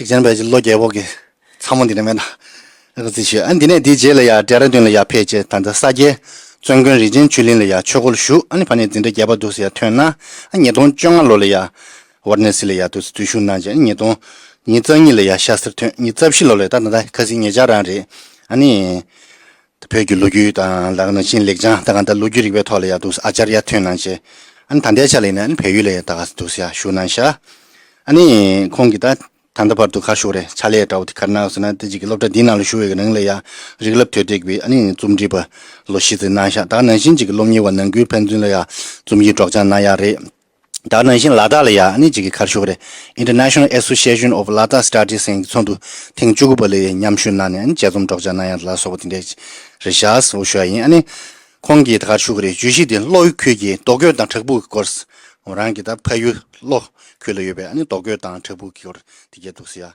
གཅིག་ཅན་བས་ཀྱི་ལོ་རྒྱལ་བོ་གིས་ཚང་མ་འདི་ནས་མེད་དང་ཨ་ཁུ་ཚིག་ཤོད་ཨ་འདི་ནས་འདི་རྗེས་ལ་ཡ་འདྲེ་ར་འདུན་ལ་ཡ་ཕེ་ཅེས་ད་ལྟ་ས་སྐྱའི་བཙོན་དགོན་རིན་ཆེན་ཆུས་གླིང་ལ་ཡ་ཆོས་སྒོ་ལ་ཞུགས་ཨ་ནི་ཕ་ནི་འདི་འདྲ་རྒྱལ་བ་འདུག་ཟེ་ཡ་ཐོན་ན་ཨ་ཉིས་སྟོང་བཅོ་ལྔ་ལོ་ལ་ཡ་བར་ནས་སི་ལ་ཡ་འདུག་ཟེ་དུས་ཞུགས་གནང་རྗེས་ཨ་ཉིས་སྟོང་ཉིས་རྩ་གཉིས་ལ་ཡ་ཤ་སིར་ཐོན་ཉིས་རྩ་བཞི་ལོ་ལ་ཡ་ད་ད་ད་ཁ་སིའི་ངེད་ཅག་རང་རེད་ཨ་ནི། བོད་ཀྱི་ལོ་རྒྱུས་དང་ལག་ན་ཤིན་ལེགས་ཅང་ད་ག་ད་ལོ་རྒྱུས་རིག་པའི་ཐོག་ལ་ཡག་འདུག་ཨ་ཅར་ཡ་ཐུན་ནང་ཆེ་ཨ་ནི་ད་ལྟའི་ཆ་ལ་ཡིན་ན་ཨ་ནི་བོད་ཡུལ་ལ་ཡ་ད་ག་ས་འདུག་ས་ཡ་བཞུགས་གནང་ཤག་ཨ་ནི་ཁོང་གི་ད་ད་ད་བར་དུ་ཁ་ཤུགས་རེད་ཕྱག་ལས་དགྲ་བོ་དེ་གར་ནག་ཟེར་ན་དེ་གཅིག་གི་སློབ་གྲྭ་འདིའི་ནང་ལ་བཞུགས་ཡོད་གི་ནང་ལ་ཡ་རིག་ལབ་དོད་དྲེགས་པའི་ཨ་ནི་རྩོམ་འབྲི་པ་ལོ་བཞི་ཟེར་གནང་ཤག་ད་ག་ནང་ཤིན་གཅིག་གི་སློབ་གཉེར་བ་ནང་ཁུལ་ཕན་ཚུན་ལ་ཡ་རྩོམ་གྱི་སྒྲོག་སྦྱང་གནང་ཡག་རེད། དག་ནང་བཞིན་ལ་དྭགས་ལ་ཡག་ནི་གཅིག་གི་ཁར་ཤོག་རེད International Association of Ladakh Studies ཨིན་གྱི་ཚོགས་འདུ་ཐེངས་བཅུ་དགུ་པ་ལ་ཡི་མཉམ་ཞུ་གནང་ནས་དཔྱད་རྩོམ་སྒྲོག་སྦྱང་གནང་ཡ་ལ་སོགས་པ་དེ་འདྲས་རེད་ཤག་ཨོ་ཞོ་ཡ་ཡིན་ཨ་ཁོང་གིས་དགར་ཤོག་རེད་བརྗོད་གཞི་དེ་གློག་ཡུ་ཁུལ་གྱི་རྡོ་བརྐོས་དང་བྲག་ཕུག་གི་སྐོར་ངོ་རང་གིས་ད་ཕ་ཡུལ་གློག་ཁུལ་ལ་ཡོད་པས་རྡོ་བརྐོས་དང་བྲག་ཕུག་གི་སྐོར་དེ་གས་འདུག་ཟེར་ཡ།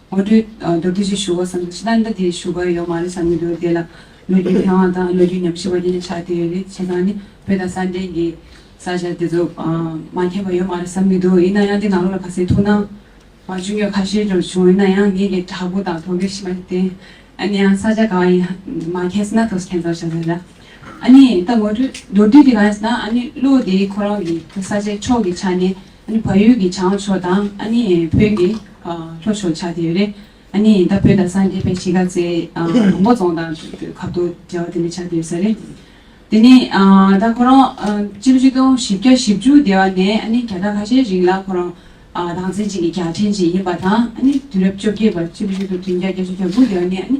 ངོ་སྤྲོད་མདོར་བསྡུས་ཤིག་ཞུ་དགོས་བསམ་ཅི་ལྟར་འདི་དེ་ཞུ་དགོས་ཡོད་མ་རེད་བསམ་གྱི་འདུག་དེ་ལ་ལོ་རྒྱུས་མཁས་དབང་དང་ལོ་རྒྱུས་ཉམས་ཞིབ་པ་གཉིས་ལས་ཆ་དེ་ཡོད་རེད་བྱས་ཙང་ནི་བོད་དང་ས་འབྲེལ་གྱི་ས་ཆ་དེ་ཚོ་མ་མཁྱེན་པ་ཡོད་མ་རེད་བསམ་གྱི་འདུག་ཡིན་ན་ཡང་འདི་ནང་ལོགས་ལ་ག་ཚད་ཐུགས་སྣང་མ་བྱུང་གི་ཁ་ཤས་འབྱོར་བྱུང་ཡིན་ན་ཡང་ངེད་ཀྱི་དྲ་འབུ་དང་དོ་གེ་ཞིག་མ་རེད་དེ། ཨ་ནི་ཡང་ས་ཆ་ག་བ་ཡིན་མ་མཁྱེན་ཟིན་ན་དོ་མཁྱེན་ཙམ་བྱ་ས་རེད། ཨ་ནི་ད་ངོ་སྤྲོད་མདོར་བསྡུས་དེ་ག་རེད་ཟེར་ན་ཨ་ནི་བློ་བདེའི་ཁོ་རང་གི་ས་ཆའི་ཕྱོགས་ཀྱི་ཆ་ནས་ཨ་ནི་བལ་ཡུལ་གྱི་བྱང་ཕྱོགས་དང་ཨ་ནི་བོད་ཀྱི་ལྷོ་ཕྱོགས་ཆགས་ཀྱི་ཡོད་རེད། ཨ་ནི་ད་བོད་དང་སངས་རྒྱས་པའི་གཞིས་ཀ་རྩེ་དང་པོ་རྫོང་དང་ཁབ་ཏུ་འབྲེལ་བ་དེ་འདྲ་ཆགས་ཀྱི་ཡོད་ས་རེད། དེ་ནི་ད་ཁོ་རང་སྤྱི་ལོ་ཆིག་སྟོང་བཞི་བརྒྱ་བཞི་བཅུ་སྟེ་བ་ནས་ཨ་ནི་ག་ད་ལྷ་ཤའི་རིང་ལ་ཁོ་རང་སྡང་ཚན་ཅན་གྱི་རྒྱལ་ཕྲན་ཅིག་ཡིན་པ་དང་ཨ་ནི་དུས་རབས་བཅོ་བརྒྱད་པ་སྤྱི་ལོ་ཆིག་སྟོང་དྲུག་བརྒྱ་བརྒྱ་ཆུ་གྱ་དགུ་སྟེ་བ་ནས་ཨ་ནི།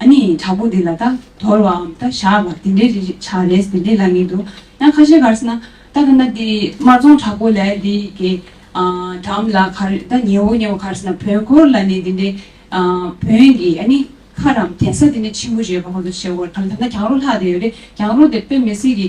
ཨ་ནི་དྲག་པོ་འདི་ལ་རྟ་དོར་བའམ་རྟ་བཞག་པ་དེ་འདྲའི་རིགས་བྱ་རེས་དེ་འདྲའི་ལ་ངེས་འདུག་ཡང་ཁ་ཤས་གར་ན་རྟ་ཁ་ན་དེ་དམར་རྫོང་དྲག་པོ་ལས་འདི་གའི་འགྲམ་ལ་གར་རྟ་ཉེ་བོ་ཉེ་བོ་གར་ན་བོན་འཁོར་ལ་ནི་དེ་འདྲའི་བོན་གྱི་ཨ་ནི་མཁར་རམ་གདན་ས་དེ་འདྲའི་ཆེན་པོ་རེད་པ་ཁོ་ཚོ་བྱེད་དགོས་རེད་གར་ན་གྱང་རོ་ལྷག་དེ་ཡོད་རེད་གྱང་རོ་དེ་དཔེ་མི་སྲིད་ཀྱི།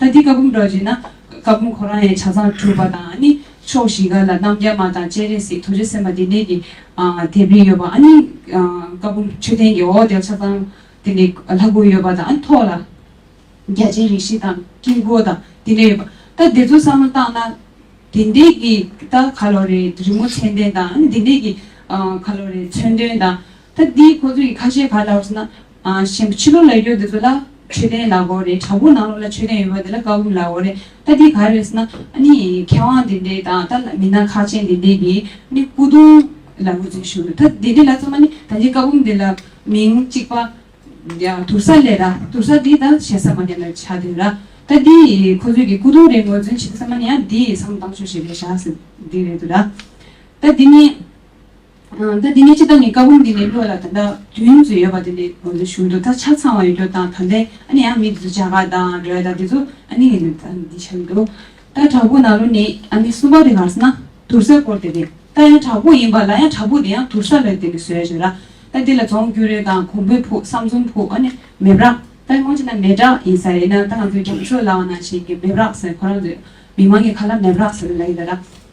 ད་འདི་ཀ་བུམ་སྒྲ་བརྗོད་ན། ཀ་བུམ་ཁོ་རང་ཡང་བྱ་ཚང་གྲུབ་པ་དང་ཨ་ནི་ཕྱོགས་བཞི་ཀ་ལ་རྣམ་རྒྱལ་མ་དང་སྤྱན་རས་གཟིགས་ཐུགས་རྗེ་སེམས་དཔའ་བདེ་གནས་ཀྱི་དེ་བི་ཡོད་པ་ཨ་ནི། ཀ་བུམ་མཆོད་རྟེན་གྱི་འོག་དེར་ཆ་ཚང་དེ་ནས་ལྷ་སྐུ་ཡོད་པ་དང་ཨ་ནི་ཐོག་ལ་རྒྱ་ཆེན་རིགས་བཞི་དང་དཀྱིལ་འཁོར་དང་དེ་ནས་ཡོད་པ། ད་འདི་ཚོ་བསམ་བློ་བཏང་ན། དེ་འདས་ཀྱི་ད་ག་ལོ་རེ་རི་མོ་མཚན་ལྡན་དང་ཨ་ནི་དེ་འདས་ཀྱི་ག་ལོ་རེ་མཚོན་དོན་དང། ད་འདི་ཁོ་ཚོ་ཡི་ཁ་ཤས་ག་ལ་ཧོས་ན། གཞན་པ་ཕྱི་ལོག་ལ་ཡོད་དེ་ཚོ་ལ་མཆོད་རྟེན་ལ་གོ་རེད་དྲ་བོ་ནང་ལོག་ལ་མཆོད་རྟེན་ཡོད་པ་དེ་ལ་དཀའ་བུ་ལ་གོ་རེད་ད་འདི་ག་རེད་ཟེར་ན་ཨ་ནི་མཁས་དབང་དེ་འདྲས་དང་ད་མི་སྣ་ཁག་ཅན་དེ་འདྲས་ཀྱིས་ཨ་ནི་སྐུ་གདུང་ལ་ངོས་འཛིན་ཞུ་འདུག་ད་དེ་འདྲས་ལ་ཚང་མ་ནི་ད་འདི་དཀའ་བུམ་དེ་ལ་མིང་གཅིག་པ་དུར་ས་ལས་ར་དུར་ས་འདི་ད་གཞན་ས་མ་ཉམས་ལ་བྱ་དེ་ར་ད་འདི་ཁོ་ཚོས་ཀྱི་སྐུ་གདུང་རེད་ངོས་འཛིན་བྱེད་དེ་ཚང་མ་ནི་ཡང་འདི་བསམ་བློ་བཏང་ཆོག་ཞེས་རེད་བཞག་ཟེར་འདི་རེད་དོ་ར་ད་འདི་ནི། ད་དེ་ནས་ཅི་ལྟར་ནི་བཀའ་བོན་འདི་ནས་བློ་ལ་ད་ལྟ་དུས་ཡུན་ཚོད་ཡོད་པ་དེ་ནས་ང་ཚོའི་གཞུང་དུ་ད་ཆ་ཚང་བ་ཡོད་རྒྱུ་དང་ད་ལྟའི་ཨ་ནི་ཡང་མི་དེ་ཚོ་བྱ་དགའ་དང་རོལ་དང་དེ་ཚོ་ཨ་ནི་ངས་ད་ནི་འདི་བྱ་གི་འདུག་ད་དྲག་པོ་ན་རོ་ནི་ཨ་ནི་གསུམ་པ་དེ་གར་ས་ན་དུར་སའི་སྐོར་དེ་རེད་ད་ཡང་དྲག་པོ་ཡིན་པ་ལ་ཡང་དྲག་པོ་དེ་ཡང་དུར་ས་ལ་དེ་ནི་བཟོས་བྱས་ལ་ད་དེ་ལ་རྫོང་གུ་རེ་དང་གོང་པོའི་ཕུག་བསམ་རྫོང་ཕུག་ཨ་ནི་མེབ་རག་ད་སྔོན་ཅི་ན་མེ་བྲག་ཡིན་ས་རེད་ན་ད་ང་ཚོའི་རྒྱང་ཤོག་ལའང་ན་ཞིག་གི་མེབ་རག་ཟེར་ཁོ་རང་ཚོའི་མི་མང་གི་ཁ་ལ་མེབ་རག་ཟེར་བའི་ལ་ཡིན་ད་ལ།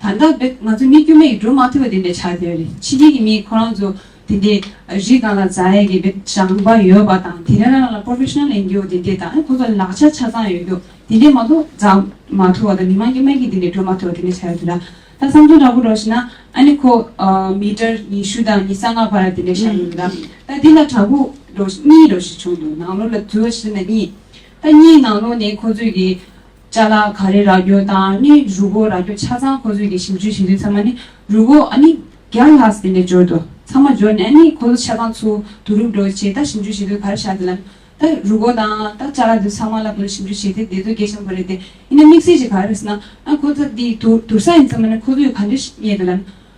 ད་ལྟ་བོད་ང་ཚོ་མི་དཀྱུས་མ་ཡིས་སྒྲུབ་མ་ཐུབ་པ་དེ་འདྲ་ཆགས་བསྡད་རེད་ཕྱི་རྒྱལ་གྱི་མིས་ཁོ་རང་ཚོ་དེ་འདྲའི་རིགས་གང་ལ་མཛའ་ཡས་ཀྱི་བོད་དྲང་པ་ཡོད་པ་དང་དེ་འདྲ་རང་ལ Professional ཡིན་རྒྱུ་དེ་འདྲས་དང་ཁོ་ཚོ་ལག་ཆ་ཆ་ཚང་ཡོད་རྒྱུ་དེ་འདྲས་མ་གཏོགས་མཛའ་མ་ཐུབ་པ་དང་མི་དམངས་དཀྱུས་མ་གྱིས་དེ་འདྲས་སྒྲུབ་མ་ཐུབ་པ་དེ་འདྲས་ཆགས་ཡོད་དེ་ལ་ད་བསམ་ཚུལ་འདྲ་པོ་སྒྲོགས་ཤེ་ན་ཨ་ནི་ཁོ་མི་གྲར་ཉི་ཤུ་དང་ཉི་ས་ལྔ་བར་དེ་འདྲས་བཞག་ཡོད་དེ་ད་ད་འདི་ལ་དྲ་འབུ་སྒྲོགས་གཉིས་སྒྲོགས་ཤེས་བྱུང་འདུག་ནང་ལོགས་ལ་འཛུལ་བ་ཤེ་ན་གཉིས་ད་གཉིས་ནང་ལོགས་ནས་ཁོ་ཚོས་ཀྱི། ལྕགས་ལ་ག་རེ་རག་རྒྱུ་དང་ནི་རུ་སྒོ་རག་རྒྱུ་ཆ་ཚང་ཁོ་ཚོས་ཀྱི་ཞིབ་འཇུས་བྱེད་དུས་ཚང་མ་ནི་རུ་སྒོ་ཨ་ནི་བརྒྱ་ལྷག་ཟེར་ནས་འབྱོར་འདུག་ཚང་མ་འབྱོར་ནས་ཨ་ནི་ཁོ་ཚོ་ཆ་ཚང་ཚུར་དུ་རུབ་འགྲོ་བྱས་ད་ཞིབ་འཇུས་བྱེད་དུས་ག་རེ་བྱ་དེ་ལ་ནི་ད་རུ་སྒོ་དང་ད་ལྕགས་ལ་དེ་ཚོ་ཚང་མ་ལ་དོ་ཞིབ་འཇུས་བྱས་དེ་བསྡད་དུས་སྐད་ཆེན་པོ་རེད་དེ་ཡིན་ན་དམིགས་བསལ་གྱི་ག་རེ་རེད་ཟེར་ན་ཨ་ཁོ་ཚོ་དེ་དུར་ས་ཡིན་ཚང་མ་ནི་ཁོ་ཚོས་ག་འདྲས་རྙེད་དེ་ལ་ནི།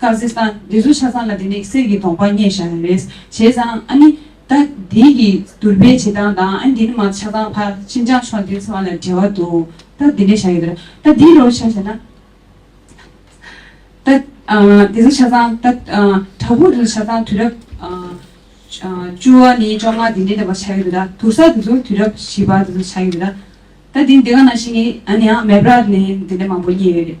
ཀ་ཟི་སྟན། འདི་ཚོ་ཆ་ཚང་ལ་དེ་ནས་གསེར་གྱི་དོང་པ་རྙེད་བཞག་ཡོད་རེད། བྱས་ཙང་ཨ་ནི། ད་འདི་གི་དུར་པའི་བྱེད་སྟངས་དང་ཨ་འདི་ནི་མ་ཆགས་སྟངས་ཕར་ཕྱིན་ཅང་ཆོག་འདི་ཚོ་ཨ་ལ་འབྲེལ་བ་འདུག་ད་འདི་ནས་བཞག་ཡོད་རེད། ད་འདི་རོ་བྱས་བྱས་ན། ད་འདི་ཚོ་ཆ་ཚང་ད་དྲ་ཕུག་འདི་ཚོ་ཆ་ཚང་དུས་རབས། བཅུ་བ་ནི་བཅོ་ལྔ་འདི་འདྲའི་ནས་པ་ཆགས་ཡོད་རེད་ད་དུར་ས་འདི་ཚོ་དུས་རབས་བཞི་པ་འདི་ཚོ་ཆགས་ཡོད་རེད། ད་འདི་འདི་ག་ནང་བཞིན་ཨ་ནི་ཡང་མེ་བར་ནས་འདི་འདྲ་མང་པོ་རྙེད་ཡོད་རེད།